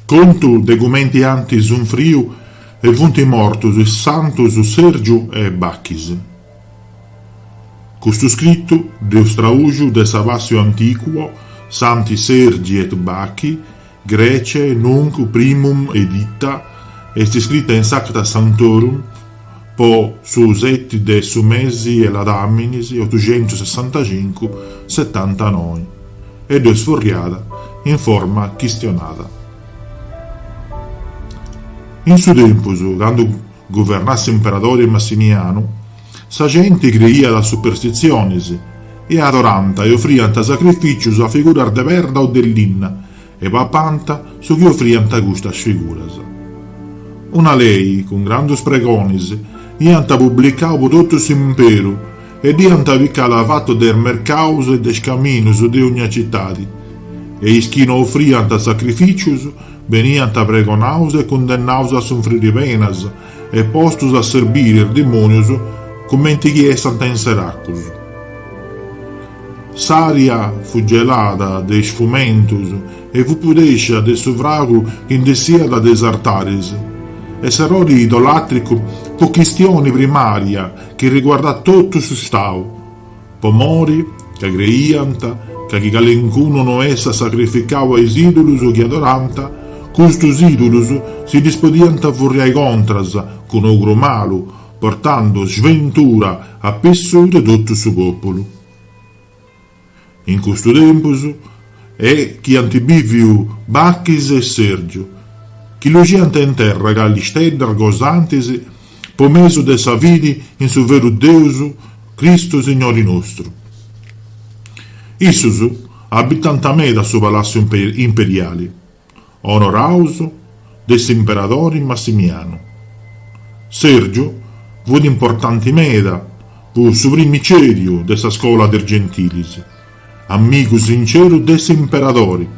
Contu de cumenti ant sunfriu e funt mortus is santus Sèrgiu e Bachis. Custu scritu dd'eus tradùxiu de sa Passio Antiquior Santi Sergi et Bacchi, Graece, nunc primum edita, est scrita in s'Acta Sanctorum, po su seti de su mesi 'e Ladàminis otuxentusessantacincu setantanoi e dd'eus furriada in forma chistionada. In su tempus, candu guvernàt s'imperadori Massimianu, sa genti creiat a superstitzionis e adorànt e ofriant sacrifìcius a figuras de perda o de linna E papànt su chi ofriant a custas figuras. Una lei, cun grandus pregonis, iant publicau po totu s'imperu e dd'iant picada fatu de is mercaus e de is caminus de ogna citadi, e is chi no ofriant sacrificius beniant pregonaus e cundennaus a sunfriri penas e postus a serbiri is dimonius cumenti chi essant in seracus. S'ària fut gelada de is fumentus e fut pudèscia de su fragu chi nd'essiat de is artaris. E s'errori idolàtricu fut chistioni primària chi riguardàt totu su stau, po mori ca creiant ca chi calincunu no essat sacrificau a is idulus chi adorànt, custus idulus si ddis podiant furriai contras cun ogru malu, Portandu sventura a pissu de totu su pòpulu. In custu tempus est chi ant bìviu Bachis e Sèrgiu, chi luxiant in terra cali steddas gosantis po mesu de sa fidi in su veru Deus Cristu Signori nostru. Issus abitànt meda su Palàssiu Imperiali. onoraus de s'imperadori Massimianu. Sèrgiu fut importanti meda fut su primicèriu de sa scola de is gentilis, amigu sinceru de s'imperadori,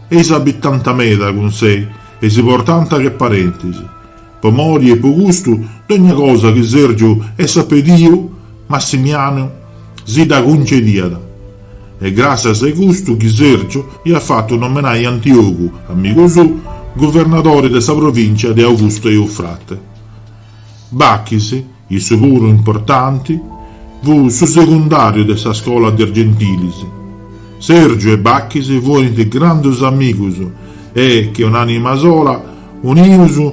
e s'abitànt meda cun sei e si portànt che parentis, Po mori e po custu, dogna cosa chi Sèrgiu essat pediu, Massimianu si dda cuncediat. Est gràssias a custu chi Sèrgiu iat fatu nomenai Antiogu, amigu suu, guvernadori de sa provìncia de Augustu Eufrate. Bachis. Issu puru importanti fu su secundàriu de sa scola de is Gentilis. Sèrgiu e Bachis furint grandus amigus e, che un'ànima sola, unius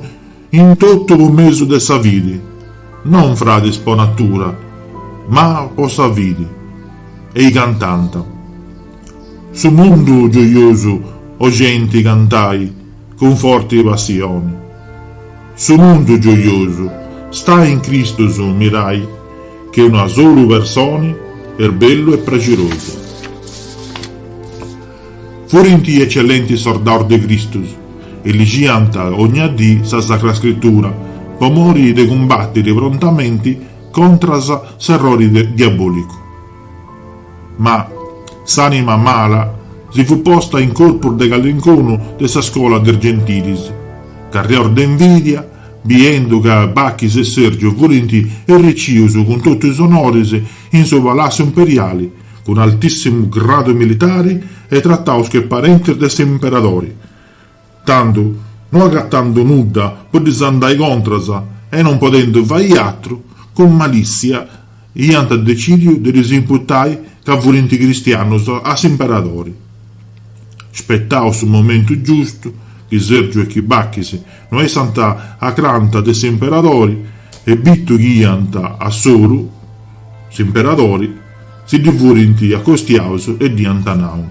in totu po mesu de sa fidi, non fradis po natura, ma po sa fidi. E-i cantant. Su mundu gioiosu o genti cantai cun forti passioni. Su mundu gioiosu stai in Cristus unius che una solu personi est bellu e praxirosu. Furint ecellentis sordaus de Cristus e ligiant ogna dì sa Sacra Scritura po mori de cumbattiri prontamenti contras s'errori diabolicu. Ma s'anima mala si fut posta in corpus de callincunu de sa scola de is gentilis. Carrigus de invidia, biendu ca Bachis e Sergio furint erricius cun totu is onoris in su Palassiu Imperiali, cun altissimu gradu militari e trataus che parentis de s'Imperadori, tandu, no agatandu nudda po ddis andai contras e non podendu fai atru, cun malissia, Iant decìdiu de ddis imputai ca furint cristianus a s'imperadori. Spetau su momentu giustu, chi Sergiu e chi Bachis no essant acanta de s'imperadori e bitu chi iant a soru s'imperadori, si ddi furint acostiaus e dd'iant nau.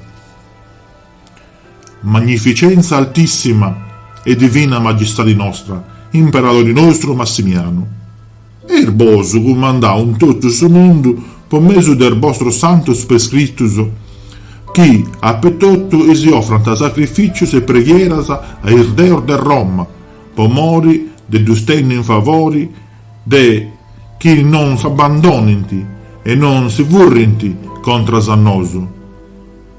Magnificenza altissima e divina magistadi nostra, imperadori nostru Massimianu, eis bosu cumandau in totu su mundu po mesu de is bostros santus prescritus chi apetotu si ofrant sacrificius e preghieras a is deus de Roma po mori de ddus tenni in favori de chi non s'abbandonint e non si furrint contras a nosu.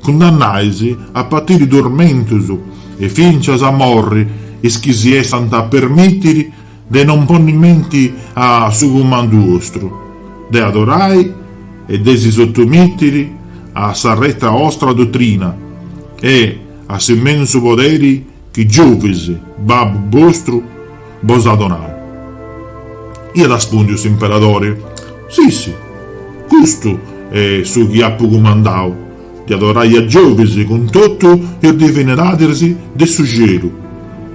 Cundennais a patiri turmentus e fincias a morri is chi si essant a permìtiri de non ponni menti a su cumandu ostru, de adorai e de si sotomìtiri a s'arreta ostra dotrina e a s'immensu poderi Chi Giuvis, babbu bostru, bos at donau? Iat arrespùndiu s'imperadori, Si, si, custu est su chi apu cumandau, de adorai a Giuvis cun totu is divinidadis de su cielu,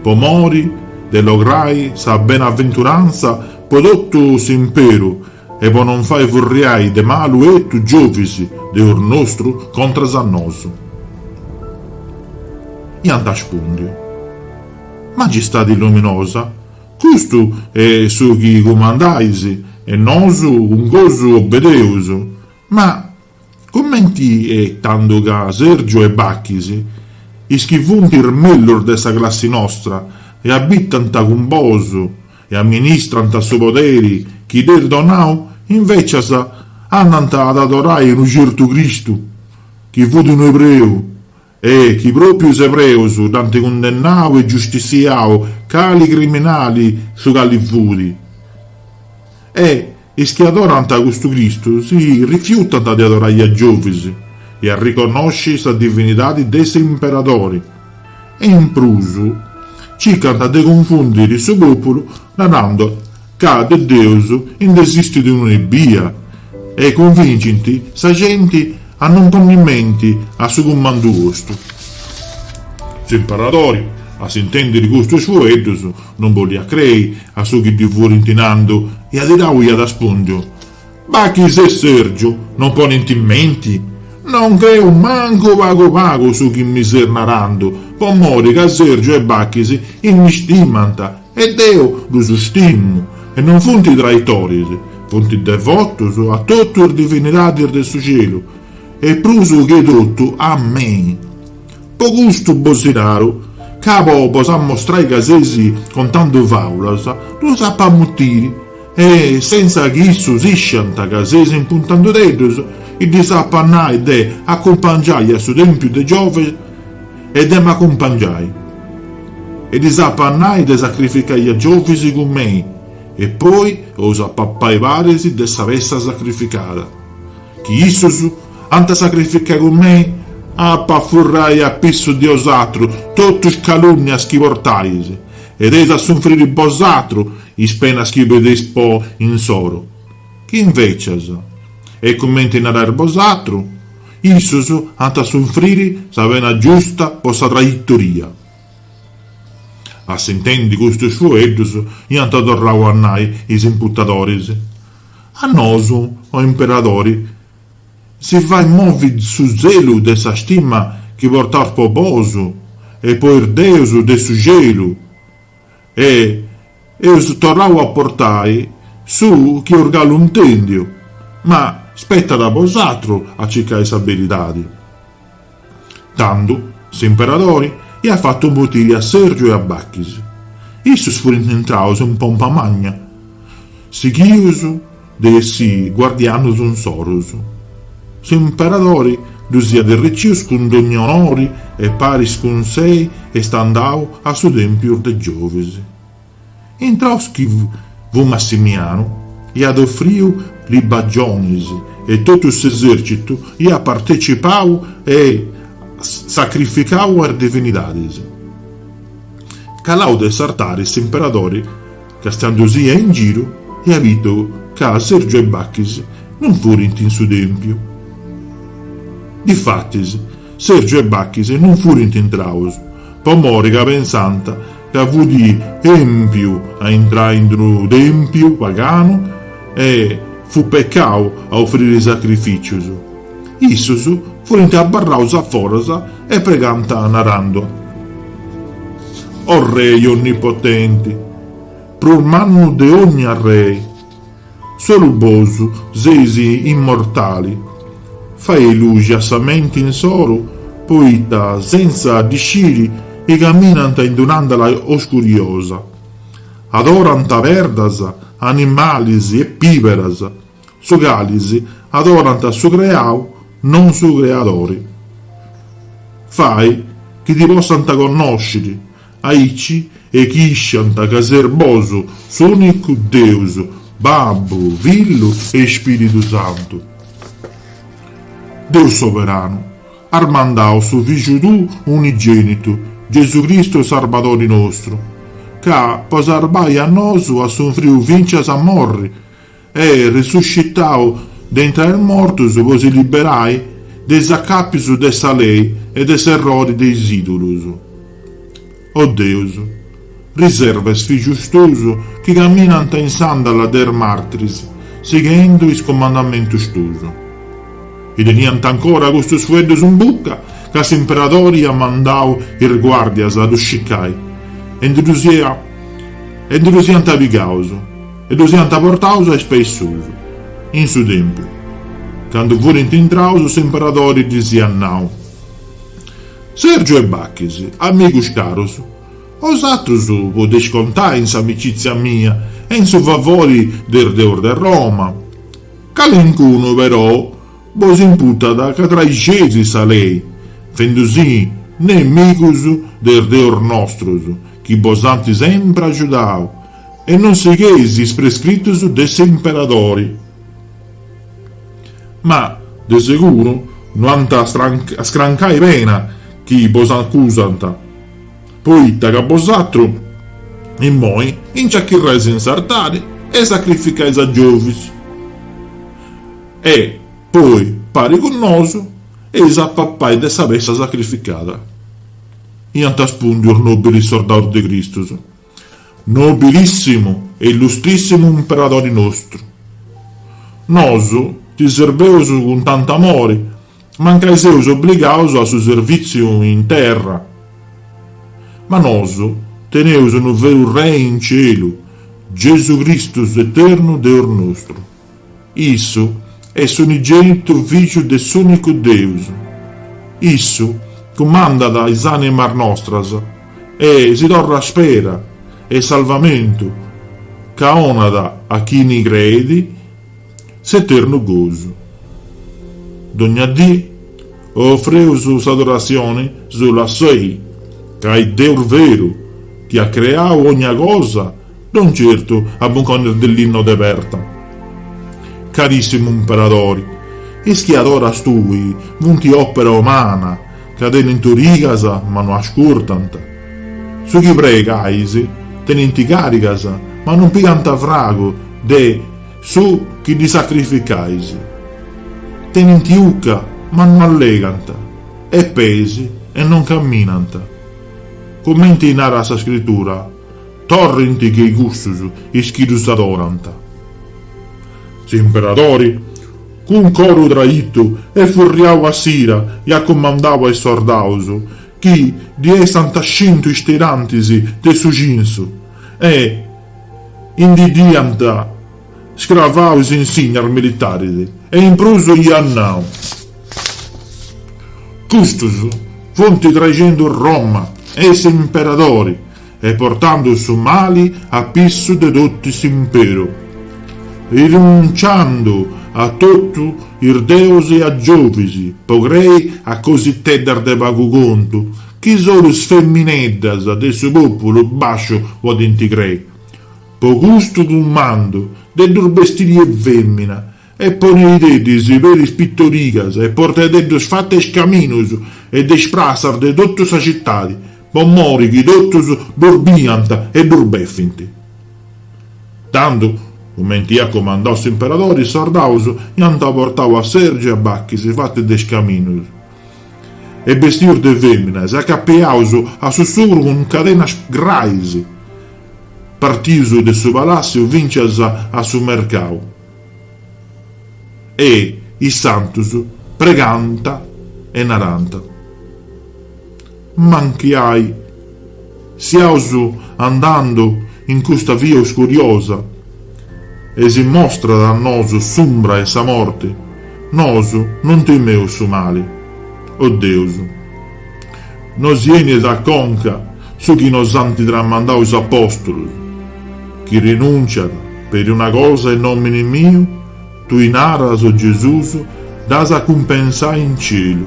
po mori de lograi sa benaventurantza po totu s'imperu e po non fai furriai de malu etu Giovis deus nostru contras a nosu. Iant aspundiu, Magistadi luminosa, custu est su chi cumandais e nosu cun gosu obedeus, ma. Cumenti est tandu ca Sergiu e Bachis, is chi funt is mellus de sa classi nostra e abitant cun bosu e amministrant su poderi chi dd'est donau, invècias andant ad adorai unu certu Cristu chi fut unu ebreu, E chi pròpiu is ebreus dd'ant cundennau e giustissiau cali criminali su cali fut. E is chi adorant custu Cristu si rifiutant de adorai a Giovis e arriconnosci sa divinidadi de s'imperadori, e in prus circant de cunfundiri su pòpulu narandu Ca de Deus ind'esistit unu ebbia, e cunvincint sa genti a non ponni menti a su cumandu custu. S'imparadori, a s'intèndiri custus fueddus, non bolliat crei a su chi ddi furint nandu e adirau iat aspundiu, Bachis e Sergiu non ponent in menti? Non creu mancu pagu pagu su chi mi seis narandu, po mori ca Sergiu e Bachis m'istimant e deu ddus istimu, e non funt traitoris, funt devotus a totu is divinidadis de su celu, e prus che totu a mei. Po custu bos naru, ca po bos ammostrai ca seis contandu fàulas, ddus apu a mutiri, E senza chi issus isciant ca seis imputandudeddus, ddis apo a nai de acumpangiai a su tèmpiu de Giovis e de m'acumpangiai, e ddis apo a nai de sacrificai a Giovis cun mei, e poi eus a papai paris de sa pessa sacrificada, chi issus ant a sacrificai cun mei, apo a furrai a pissu de 'osatru totu is calùnnias chi portais, e eis a sunfriri bosatru, Is penas chi pideis po insoru, chi invecias est cumenti narais bosatru, issus ant a sunfriri sa pena giusta po sa traitoria. A s'intendi custus fueddus iant torrau a nai is imputadoris, A nosu, o imperadori, si fait movi su zelu de sa stima chi portaus po bosu e po is deus de su celu, E eus torrau a portai su chi eus galu intèndiu, ma spetat a bosatru a circai sa beridadi. Tandu s'imperadori iat fatu botiri a Sèrgiu e a Bachis. Issus furint intraus in pompa magna, sighius De essi guardianus insoru. S'Imperadori ddus iat errecius cun dogna onori e paris cun sei est andau a su Tempius de Giovis. Intraus chi fut Massimianu, iat ofriu libagionis e totu s'esercitu iat partecipau e sacrificau a is divinidadis. Calau de s'artari s'Imperadori. Castiau si iat in giru e iat biu ca Sergiu e Bachis non furint in su tèmpiu. Difatis, Sergiu e Bachis non furint intraus, po mori ca pensànt ca fut èmpiu a intrai in d'unu tèmpiu paganu e fut pecau a ofriri sacrifìcius. Issus furint abarraus a foras e pregànt narendu, O Rei onnipotenti, prus mannu de ogna rei, solu bosu seis immortali, fai luxi a sa menti insoru, poita sentza ddi sciri chi caminant in un'àndala oscuriosa, adorant perdas, animalis e pìberas, Su calis adorant su creau, non su creadori. Fai chi ti possant connosciri, aici e chi isciant ca seis bosu s'unicu Deus, Babbu, Fillu e Spiridu Santu. Deus soberanu, as mandau su Fìgiu tuu unigenitu, Gesu Cristu Sarbadori nostru, ca po sarbai a nosu at sunfriu fincias a morri E resuscitau de intra is mortus po si liberai de is acapius de sa lei e de s'errori de is idulus. O Deus, riserva is fijus tus chi caminanta in s'àndala de is martris sighendu is comandamentus tus. E teniant ancora custus fueddus in bucca ca s'imperadori iat mandau is guardias a ddus cicai e ndi ddus iant pigaus. e ddus iant portaus a is peis suus. In su tèmpiu, candu furint intraus s'imperadori ddis iat nau, Sergiu e Bachis, amigus carus, bosatrus podeis contai in s'amicitzia mia e in su favori de is deus de Roma. Calincunu, perou, bos imputat ca traixeis sa lei, fendi-si nemigus de is deus nostrus chi bos ant sempri agiudau, E non sigheis is prescritus de s'imperadori. Ma, de seguru, no ant a scrancai pena chi bos acusant, poita ca bosatru, immoi, nci achirrais in s'artari e sacrificais a Giovis. E, poi, pari cun nosu, eis a papai de sa pessa sacrificada, iant respùndiu is nobilis sordaus de Cristus. Nobilissimu e illustrissimu Imperadori nostru, nosu ti serbeus cun tantu amori, mancai seus obligaus a su servìtziu in terra, ma nosu teneus unu veru Rei in cielu, Gesù Cristu s'Eternu Deus nostru. Issu est s'unigénitu Fìgiu de s'Ùnicu Deus. Issu cumandat is ànimas nostras e si torrat spera e salvamentu ca onat a chini creit s'eternu gosu. Dogna dì ofreus s'adoratzioni solu a Sei, ca est Deus veru chi at creau ogna cosa Non certu a buncones de linna o de perda. Carissimu Imperadori, is chi adoras tui funti opera umana, ca tenint origas ma no ascurtant. Su chi pregais, tenint carigas ma non pigant fragu de su chi ddi sacrificais. Tenint ucca ma no allegant, e peis e non camminant. Comenti narat sa Scritura, Torrint che cussus is chi ddus adorant. S'imperadori, cun coru traitu e furriau a s'ira, iat cumandau a is sordaus chi ddi essant scintu is tirantis de su cinsu e ndi dd'iant scravau is insignas militaris e in prus iat nau, Custus funt traixendu Roma e s'imperadori. E portandu su mali a pissu de totu s'imperu. Rinunciandu a totu is deus e a Giovis, po crei a cositeddas de pagu contu, chi solu is femineddas de su populu basciu podint crei. Po custu cumandu de ddus bestiri 'e femina, e poneideddis per is pitorigas e portededdus fatu 'e is caminus e de is prassas de totu sa citadi, po mori chi totus ddus biant e ddus befint. Tandu, cumenti iat comandau s'imperadori, is sordaus iant portau a Sergiu e a Bachis fatu de is caminus e bestius de feminas, acapiaus a su sugru cun cadenas grais, partius de su palassiu fintzas a su mercau. E is santus pregànt e narànt, Mancai siaus andàndu in custa via uscuriosa, e si mostrat a nosu s'umbra 'e sa morti, nosu non timeus su mali, o Deus. Nosi benit a conca su chi nos ant tramandau is apòstulos, Chi renùnciat peri una cosa in nòmini miu, tui naras, o Gesùs, dd'as a cumpensai in cielu.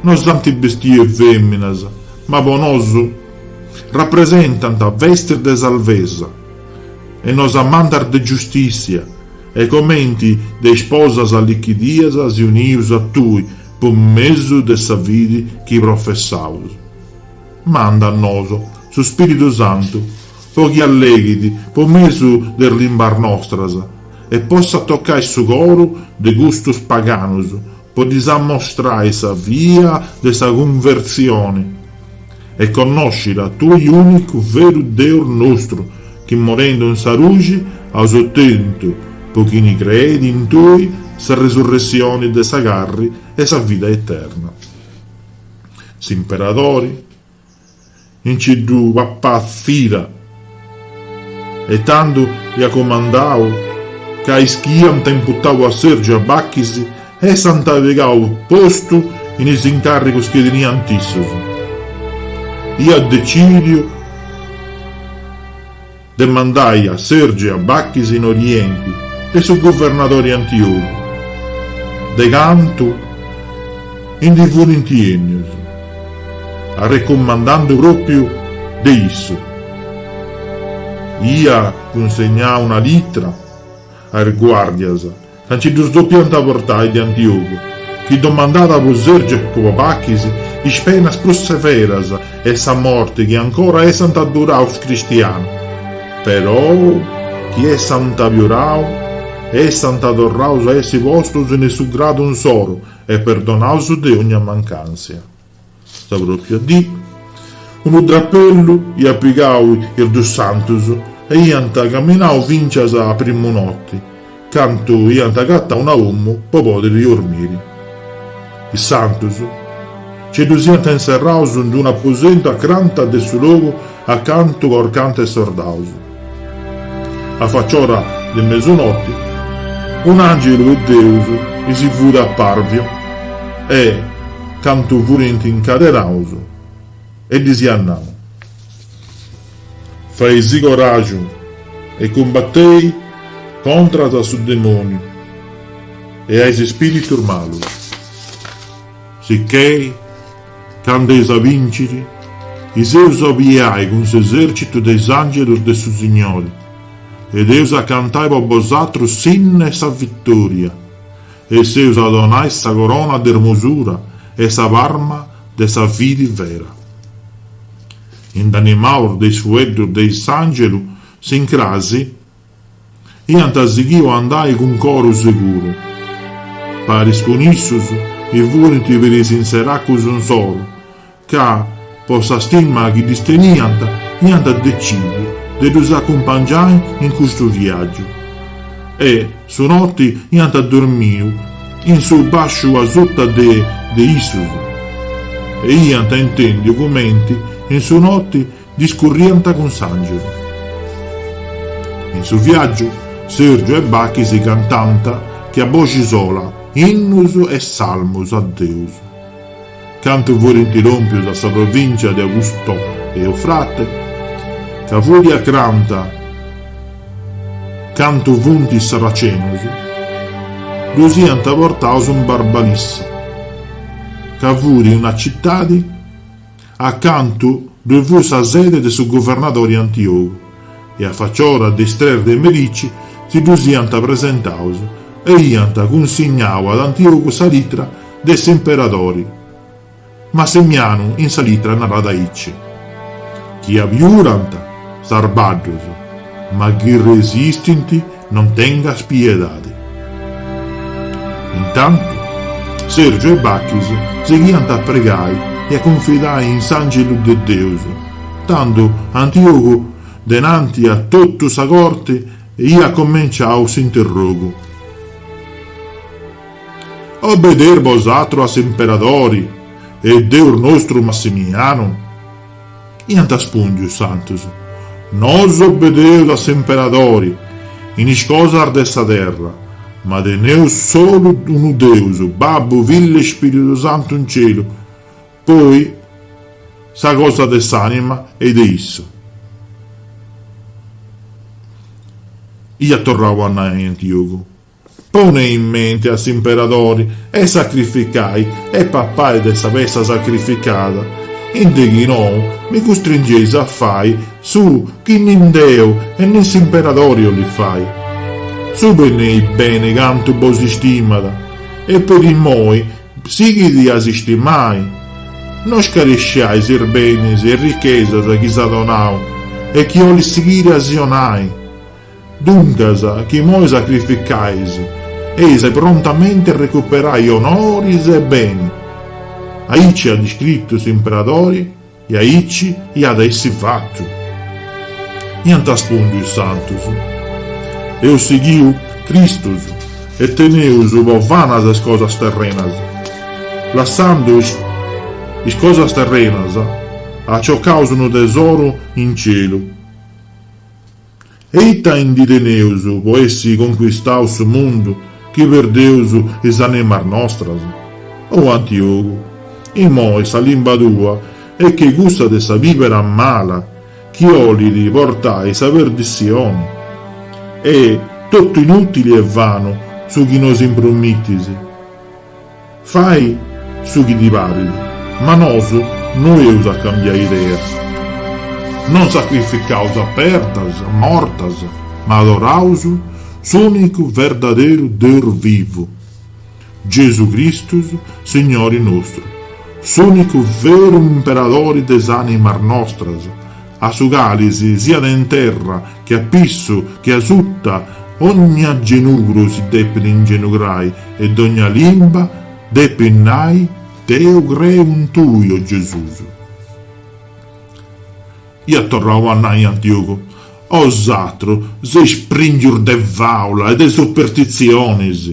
Nos ant bestiu e fèminas, ma po nosu rapresentant vestis de sarvesa e nos amantas de giustìssia e comenti de isposas allichidias si unius a tui, po mesu de sa fidi chi professaus, manda a nosu su Spiridu Santu po chi alleghit po mesu de is limbas nostras e possat tocai su coru de custus paganus po ddis ammostrai sa via de sa cunvertzioni, E connosciri a tui unicu veru Deus nostru, chi morendu in sa ruxi aus otentu, po chini creet in tui, sa resurressioni de sa carri e sa vida eterna. S'imperadori, inci ddu papàt s'ira. E tando iat comandau ca is chi iant imputadu a Sèrgiu e a Bachis essant pigau postu in is incàrrigos chi teniant issos, iat decìdiu de mandai a Sèrgiu e a Bachis in Orienti de su guvernadori Antiogu, de cantu, Indi furint ennius, arrecomandande propriu de issu. Ia cunsegnau una litra a is guardias ca nci ddus dopiant portai de Antiogu, chi domandàt po Sèrgiu e po Bachis is penas prus severas e sa morti chi ancora essant adduraus cristianus, perou chi essant abiurau e essant torraus a essi postus in su gradu insoru, E perdonaus de ogna mancàntzia. Sa pròpia dì, unu drapellu iat pigau is dus santus e iant caminau fintzas a primu noti, cantu iant agatau una omu po pòdiri dormiri. Is santus nci ddus iant inserraus in d-una aposentu acranta de su logu a cantu corcant is sordaus. A facciora de mesunoti, un'àngelu 'e Deus ddis furi apàrviu e, cantu furint incadenaus, e ddis iat nau, Faisi coràgiu e cumbatei contras a su demòniu e a is ispìritus malus. Sichè, cando eis a bìnciri, is eus a obiai cun s'esèrcitu de is àngelus de su Signori, e eus a cantai po bosatrus s'innu 'e sa vitòria, e s'eus a donai sa corona de ermosura e sa parma de sa fidi vera. Indanimaus de is fueddus de is àngelus s'incrasi. Iant sighiu a andai cun coru seguru. Paris cun issus nci furint piris is seracus insoru, ca, po sa stima chi ddis teniant, iant decìdiu de ddus acumpangiai in custu viàgiu. E, su noti, iant dormiu in su bàsciu asuta de de issus. E iant intèndiu cumenti in su noti Discurriant cun s'àngelu. In su viàgiu, Sèrgiu e Bachis cantant che a boxi sola innus e salmus a Deus. Cantu furint ròmpius a sa provìncia de Augusto e Eufrate, ca furi acranta cantu funt is sarracenus, ddus iant portaus in Barbalissa, ca furi una citadi, A cantu ddue fut sa sede de su governadori Antiogu e a faciora de is tres de merici si ddus iant presentaus e iant cunsignau ad Antiogu sa litra de s'imperadori Massimianu in sa litra narat aici chi abiurant sarbaddus ma chi resistint Non tengas piedade. Intantu, Sergiu e Bachis sighiant a pregai e a cunfidai in s'Àngelu de Deus, tando Antiogu denanti a totu sa corti iat comenciau s'interrogu. Obedeis bosatrus a s'imperadori e Deus nostru Massimianu? Iant arspundiu is santus, Nosu obedeus a s'imperadori, in is cosas de sa terra, ma teneus solu unu Deus, Babbu, Fillu e Spiritu Santu in cielu, po is cosas de s'anima e de issu. Iat torrau a nai Antiogu. Ponei in mente a s'imperadori e sacrificai e papai de sa pessa sacrificada, in de chi nou mi custringeis a fai su chi ni deu e nin s'imperadori 'ollit fai. Scieis beni beni cantu bos istimat e peri immoi sighidi a s'istimai. No scaresciai sis benis e richesas chi s'at 'onau e chi 'ollit sighiri a si 'onai. Duncas, chi imoi sacrificais, eis prontamente a recuperai onoris e beni. Aici at iscritu s'imperadori e aici iat a essi fatu. Iant arspundiu is santus, Eus sighiu Cristus e teneus po vanas is cosas terrenas. Lassandu is cosas terrenas, aciocaus unu tesoru in cielu. E ita indi teneus po essi conquistau su mundu chi perdeus is animas nostras? O Antiogu, imoi sa limba tua est che cussa de sa bibera mala chi 'olit portai a sa perdissioni. Est totu inutili e vanu su chi nos impromittis. Fai su chi ti parit, ma nosu no eus a cambiai ideas. Non sacrificaus a perdas mortas, ma adoraus s'unicu verdaderu Deus vivu, Gesu Cristus, Signori nostru, s'unicu veru Imperadori de s'animas nostras, a su cali, siat in terra, che a pissu, che a suta, ogna genugru si depit ingenugrai e dogna limba depit nai, Deu creu in tui, o Gesùs. Iat torrau a nai Antiogu, 'Osatrus, seis prenus de fàulas e de superstitzionis!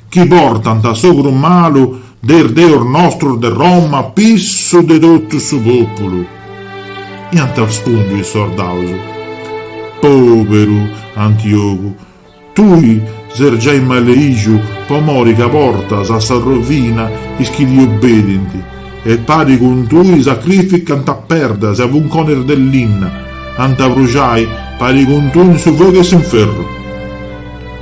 chi portant s'ogru malu de is deus nostus de Roma a pissu de totu su pòpulu. Iant arspundiu is sordaus, Pòberu Antiogu, tui ses giai maleìxiu po mori ca portas a sa rovina is chi ti obedent, e pari cun tui sacrificant a perdas e a 'unconis de linna, ant a bruxai pari cun tui in su fogu 'e s'inferru.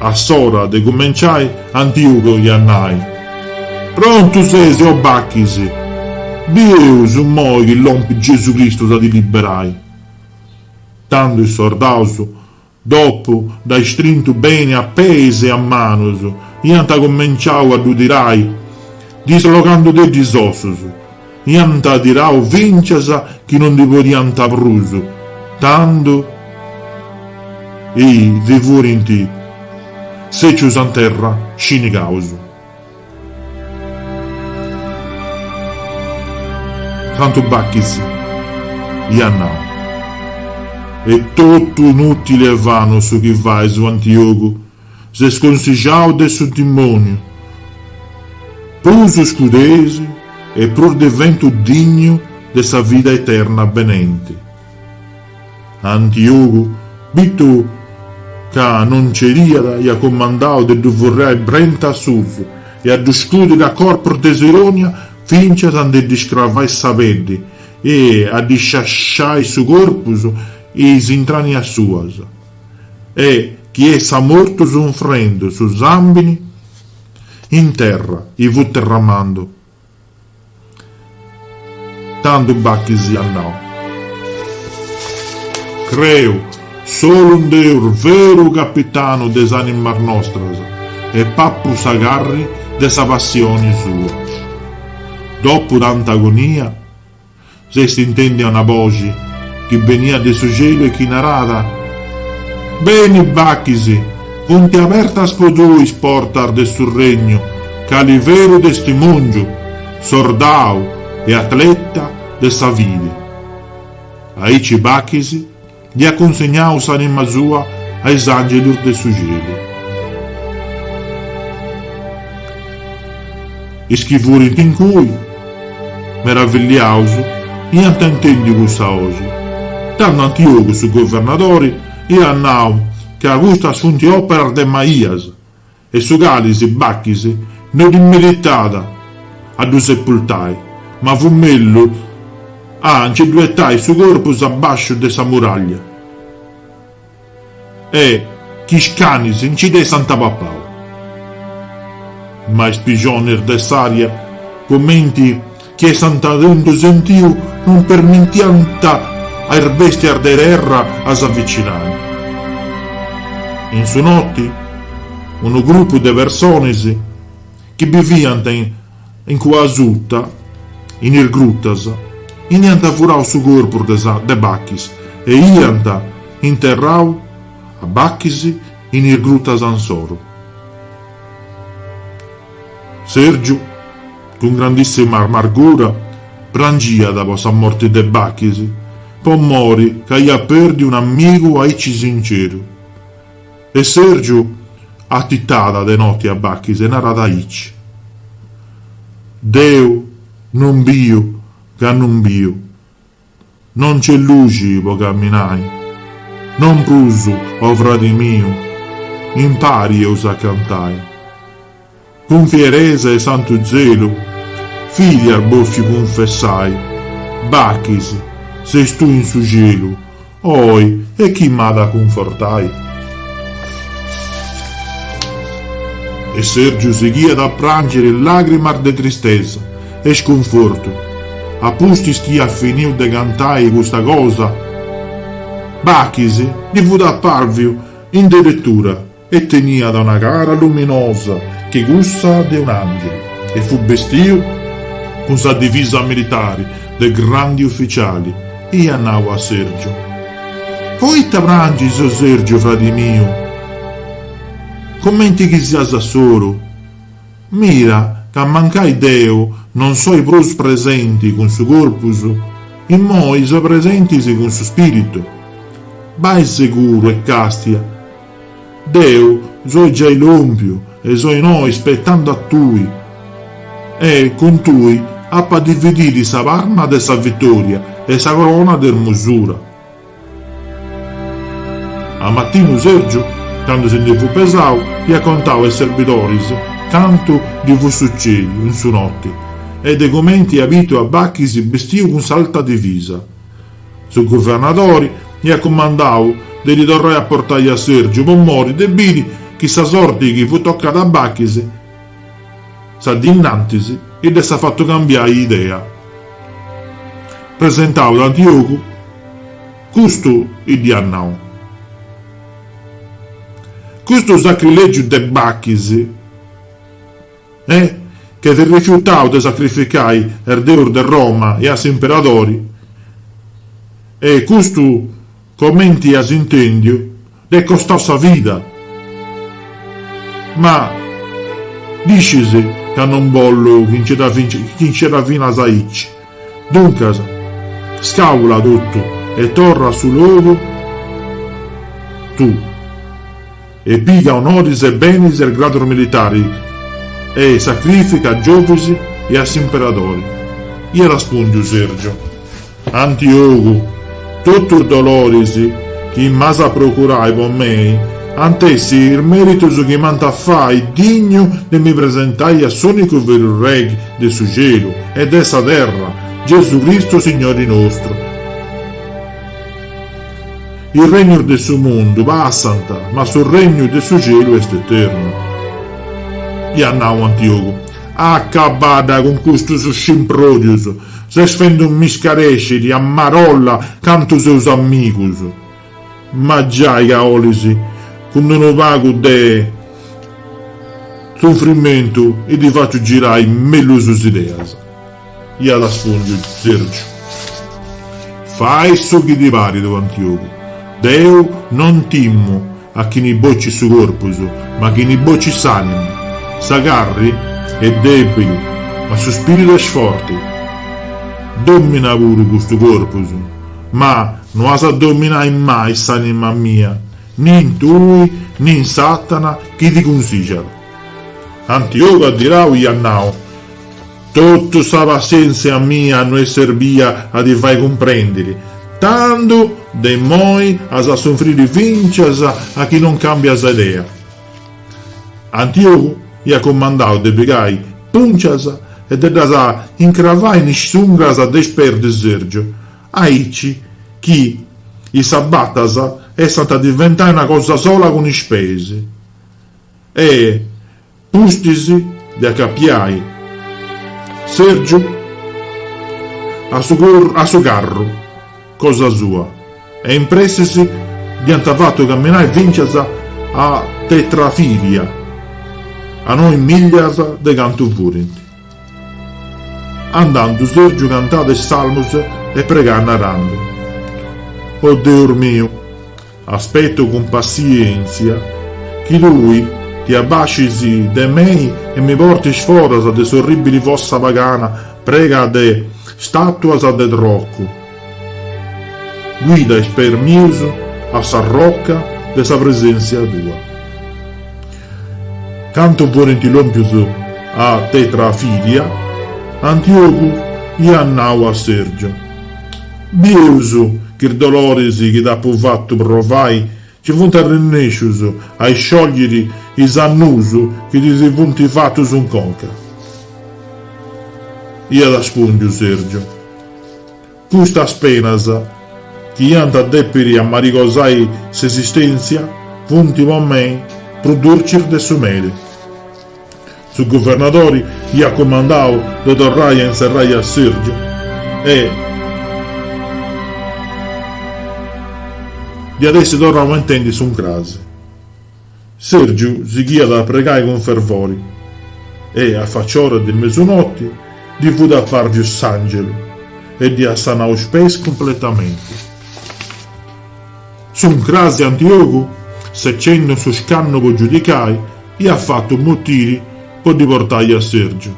A s'ora de cumenciai, Antiugo iat nai. Prontu ses, o Bachis! Bieus immoi chi lompit Gesù Cristu a ti liberai! Tando is sordaus, dopu dd'ai strintu beni a peis e a manus, iant cumenciau a ddu tirai, dislogandudeddi is ossus. Iant tirau fincias chi no ndi podiant prus, tando chi si furint sètzius in terra scinigaus. Tandu Bachis iat nau, est totu inùtili e vanu su chi fais, o Antiogu, ses consigiau de su dimòniu, prus iscudes e prus diventu dignu de sa vida eterna benenti.. Antiogu, bitu ca no bincìat, iat comandadu de ddu furriai brenta a susu e a ddu scudiri a corpus de sirònia fintzas a ndi ddi scravai sa peddi e a ddi sciasciai su corpus e is intrànnias suas. E chi essat mortu sunfrendu su sambini in terra e fut derramendu. Tandu Bachis iat nau. Creu solu in Deus veru capitanu de is animas nostras e papu sa carri de sa passioni sua. Dopu tanta agonia. S'est intèndia una boxi chi beniat de su celu e chi narat, Beni, Bachis, funt abertas po tui is portas de su regnu cali veru testimòngiu, sordau e atleta de sa fidi. Aici Bachis Ndi at cunsignadu s'anima sua a is angelus de su cielu. Is chi furint incui, meravilliaus, iant intendiu cussa boxi, tando Antiogu su governadori iat nau ca custas sunt operas de maias, E su cali, Bachis, no ddi meritàt a ddu sepultai, ma fut mellus a nci ddu etai su corpus a basciu de sa muraglia e chi is canis nci dd'essant papau. Ma is pixonis de s'aria, cumenti. chi essant tentu sentiu non permitiant a is bèstias de terra a s'avicinai. In su noti, unu grupu de personis chi biviant in cua asuta, in is grutas, iant furau su corpus de Bachis e iant interrau a Bachis in is grutas ansoru. Sèrgiu, cun grandissima amargura, prangiat po sa morti de Bachis, po mori ca aiat pèrdiu unu amigu aici sinceru. E Sèrgiu atitada de noti a Bachis e narat aici, Deu non biu ca non biu. No nc'est luxi po camminai. Non prus, o fradi miu, impari eus a cantai. Cun fieresa e santu zelu, iast bòfiu cunfessai, Bachis, ses tui in su cielu, Oi, e chi m'at a cunfortai? E Sèrgiu sighiat a pràngiri làgrimas de tristesa e scunfortu, a pustis chi iat finiu de cantai custa cosa, Bachis ddi fut apàrviu in deretura E teniat una cara luminosa che cussa de un angelu e fut bestiu cun sa divisa militari de grandi ufficiali e iat nau a Sergiu, Poita prangis, o Sergiu, fradi miu? Comenti chi sias a solu? Mira ca mancai deu non soi prus presenti cun su corpus, immoi soi presenti cun su spiritu. Bai seguru e castia Deu soi giai lòmpiu e soi innoi spetendu a tui. E cun tui apu a dividiri sa parma de sa vitòria e sa corona de ermosura. A matinu Sergiu, candu si ndi fut pesau, iat contau a is serbidoris cantu ddi fut sucèdiu in su noti e de cumenti ia bitu a Bachis bistiu cun s'alta divisa. Su guvernadori iat cumandau de ddi torrai a portai a Sèrgiu po mori de biri chi sa sorti chi fut tocada a Bachis sa dì innantis dd'essat fatu cambiai idea. Presentau a Antiogu, custu dd'iat nau, Cussu sacrìlegu de Bachis, E, ch'est rifiutau de sacrificai a is deus de Roma e a s'imperadori, e custu, comenti as intèndiu, dd'est costau sa vida. Ma, ddu scis ca non bollu chi nce dda finas aici. Duncas, scàula totu e torra a su logu tuu. E piga onoris e benis e gradus militari e sacrifica a Giovis e a s'imperadori. Iat respùndiu Sergio. Antiogu, totu is doloris chi m'as a procurai po mei ant essi is meritus chi m'ant a fai dignu de mi presentai a s'unicu veru Regi de su Celu e de sa terra, Gesù Cristu Signori nostru. Is regnus de su mundu passant, ma su regnu de su celu est eternu. Iat nau Antiogu. Acabadda cun custus scimpròdius! Ses fendu mi scarèsciri a marolla cantu seus amigus! Ma giai ca 'olis, cun unu pagu de sunfrimentu, ti faciu girai mellus is ideas. Iat respùndiu Sèrgiu. Fai su chi ti parit, Antiogu. Deu non timu a chini bocit su corpus, ma chini bocit s'ànima. Sa carri est dèbili, ma su spìritu est forti. Dòmina puru custu corpus, ma no as a dominai mai s'ànima mia, nin tui, nin Satana chi ti cunsìgiat. Antiogu adirau iat nau. Totu sa passièntzia mia no est serbia a ti fai cumprèndiri, tandu de immoi as a sunfriri fìncias a chi non càmbias idea. Antiogu iat cumandau de pigai pùncias e de ddas incravai in is ungras de is peis de Sergiu, aici chi is sabatas essant a diventai una cosa sola cun is peis. E pustis de acapiai Sergiu a su a su carru cosa sua e in pressis dd'iant fatu caminai fìncias a Tetrafilia, a noi millas de cantu furint. Andandu Sergiu cantat is salmus e pregat narandu, O Deus miu! Aspeto cun passiéntzia chi tui ti abbascis de mei e mi portis foras de s'orrìbili fossa pagana prena de stàtuas de trocu, guida is peis mius a sa roca de sa preséntzia tua. Candu fuerint lòmpius a Tetrafilia, Antiogu iat nau a Sergio. Bieus ch'is doloris chi t'apu fatu provai nci funt arrennescius a isciogliri is annuus chi ti si funt fatus in conca, iat aspùndiu Sergiu. Custas penas, chi iant a dèpiri amarigosai s'esistèntzia, funt po mei prus durcis de su meli. Su guvernadori iat cumandau de torrai a inserrai a Sergiu e dd'iat essi torrau a intendi s'uncrasi. Sergiu sighiat a pregai cun fervori e, a faciora de mesunoti, ddi fut apparviu s'angelu e ddi at sanau is peis cumpletamenti. S'uncrasi Antiogu, secendu su scannu po giudicai, iat fatu motiri po ddi portai a Sergiu.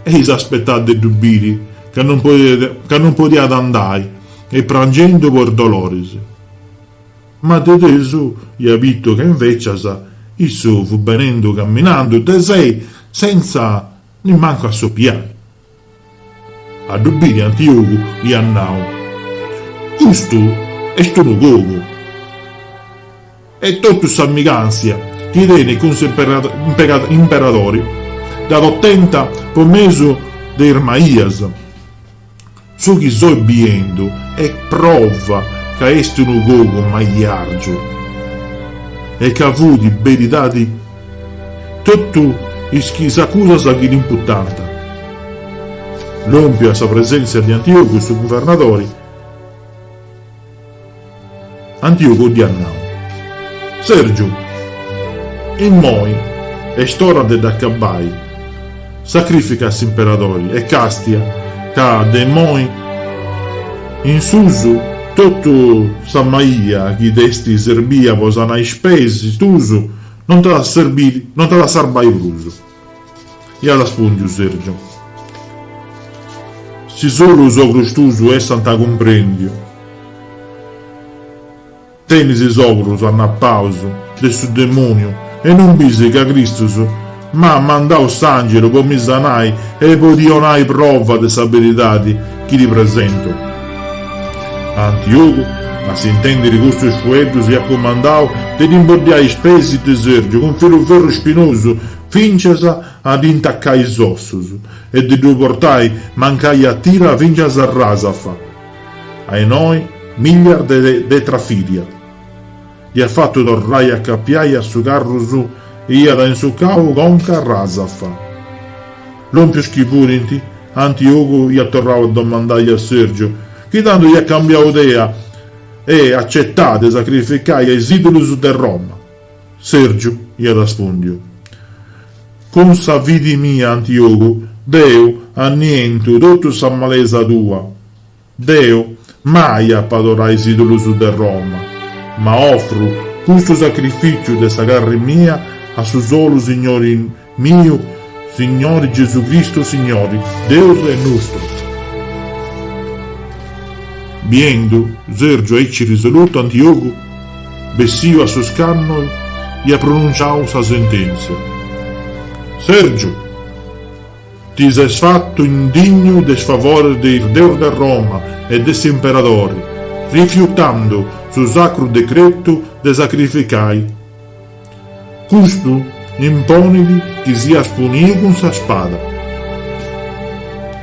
E s'aspetàt de ddu biri ca non podiat andai e prangendu po is doloris. Ma de tesu iat bitu ca invecias issu fut benendu caminandu de sei senza nimmancu assopiai. A ddu biri Antiogu iat nau, Custu est unu cogu! E totu s'amigàntzia chi tenit cun s'imperadori dd'at otenta po mesu de is maias. Su chi soi biendu est prova ca est unu cogu maiargiu e ca fut beridadi. Totu is chi is acusas chi dd'imputant. Lòmpiu a sa presèntzia de Antiògu su guvernadori, Antiògu dd'iat nau, Sèrgiu, immoi est ora de dd'acabai, sacrifica a s'imperadori e càstia ca de immoi in susu totu sa maia chi t'est serbia po sanai is peis tuus, Non t'at a serbiri, non t'at a sarbai prus, iat aspùndiu Sergiu. Si solu is ogros tuus essant cumprèndiu, tenis is ogros annapaus de su demòniu e non bisi ca Cristus M'at mandadu s'àngelu po mi sanai e po ti 'onai prova de sa beridadi chi ti presento. Antiogu, a s'intèndiri custus fueddus, iat cumandau de ddi imboddiai is peis de Sèrgiu cun filu ferru spinosu fintzas a ddi intacai is ossus e de ddu portai mancai a tira fintzas a Rasafa, a noi millas de Trafìdia. Dd'hiat fatu torrai a acapiai a su carru e s'hiat insucau conc'a Rasafa. Lompius chi furint, Antiugu hiat torrau a domandai a Sergiu, chi tandu hiat cambiau idea e acetau de sacrificai a is idulus de Roma. Sergiu hiat arrespundiu, Cun sa fidi mia, Antiugu, deu annientu totu sa malesa tua. Deu mai apo a adorai is idulus de Roma, ma ofru custu sacrificiu de sa carri mia a su solu Signori miu, Signori Gesù Cristu Signori Deus nostru. Biendu Sergiu aici risolutu Antiogu setziu a su scannu iat pronunciau sa sentenzia. Sergiu! Ti ses fatu indignu de is favores de is deus de Roma e de s'imperadori, rifiutando su sacru decretu de sacrificai. Custu imponit chi sias puniu cun sa spada.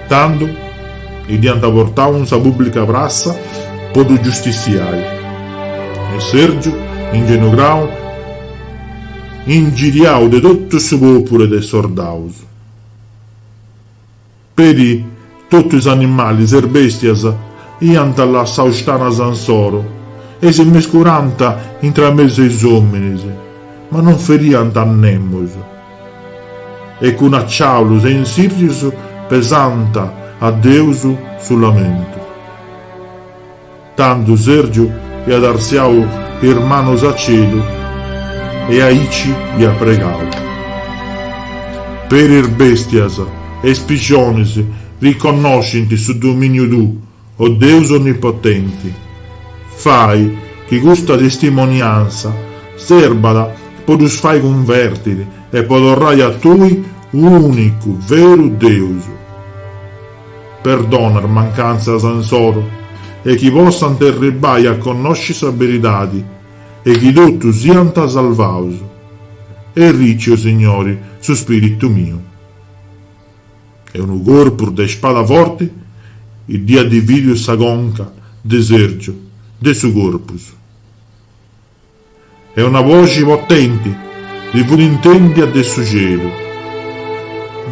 Tandu dd'iant portau in sa pubblica prassa po ddu giustiziai. E Sergiu, ingenugau, ingiriau de totu su populu e de is sordaus, Peri totu is animalis e is bèstias iant lassau is tanas insoro e si mescurànt intramesu a is òminis, ma non feriant a nemus, e cun aciàulus e tzèrrius pesànt a Deus su lamentu. Tandu Sèrgiu iat artziau is manos a celu e aici iat pregau, Peri is bèstias e is pillonis riconnoscint su domìniu tuu, o Deus onnipotenti, fai chi custa testimonianza serbat po ddus fai cunvèrtiri e po torrai a tui, ùnicu, veru Deus. Perdona is mancantzas insoro e chi possant arribai a connosci sa beridadi e chi totus siant salvaus. Arrici, o, Signori, su spiritu miu. E unu corpu de spada forti dd'iat dividiu sa conca de Sergiu de su corpus. E una boxi potenti si fut intèndia de su celu,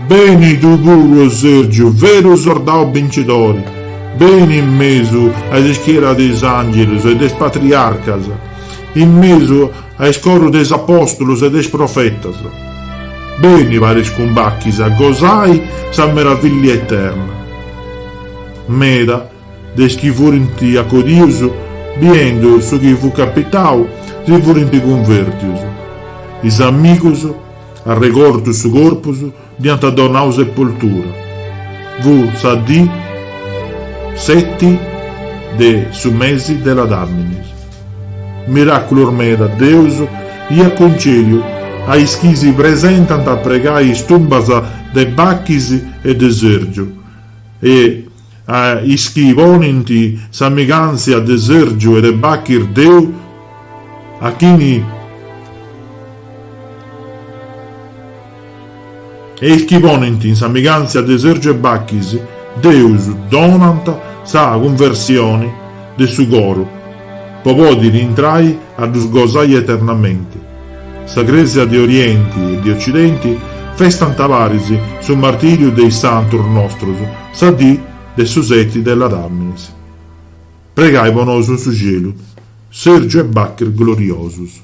Beni tui puru, o Sergiu, veru sordau bincidori, beni in mesu a is ischieras de is àngelus e de is patriarcas, in mesu a is corus de is apòstulus e de is profetas, beni paris cun Bachis a gosai sa meravillia eterna. Meda De is chi furint acodius, biendu su chi fut capitau, si furint cunvertius. Is amigus, arregortus su corpus, dd'iant donau sepoltura. Fut sa dì seti de su mesi de Ladàminis. Miràculus meda Deus iat cuncèdiu a is chi si presentant a pregai is tumbas de Bachis e de Sèrgiu e a is chi ponint sa migàntzia de Sèrgiu e de Bachis deu, a chini a is chi ponint in sa migàntzia de Sèrgiu e Bachis Deus donant sa cunversioni de su coru po pòdiri intrai a ddus gosai eternamenti. Sa Crèsia de Orienti e de Ocidenti festant paris su martìriu de is santus nostros sa dì de su seti de Ladàminis. Pregai po nosu in su celu. Sèrgiu e Bachis gloriosus.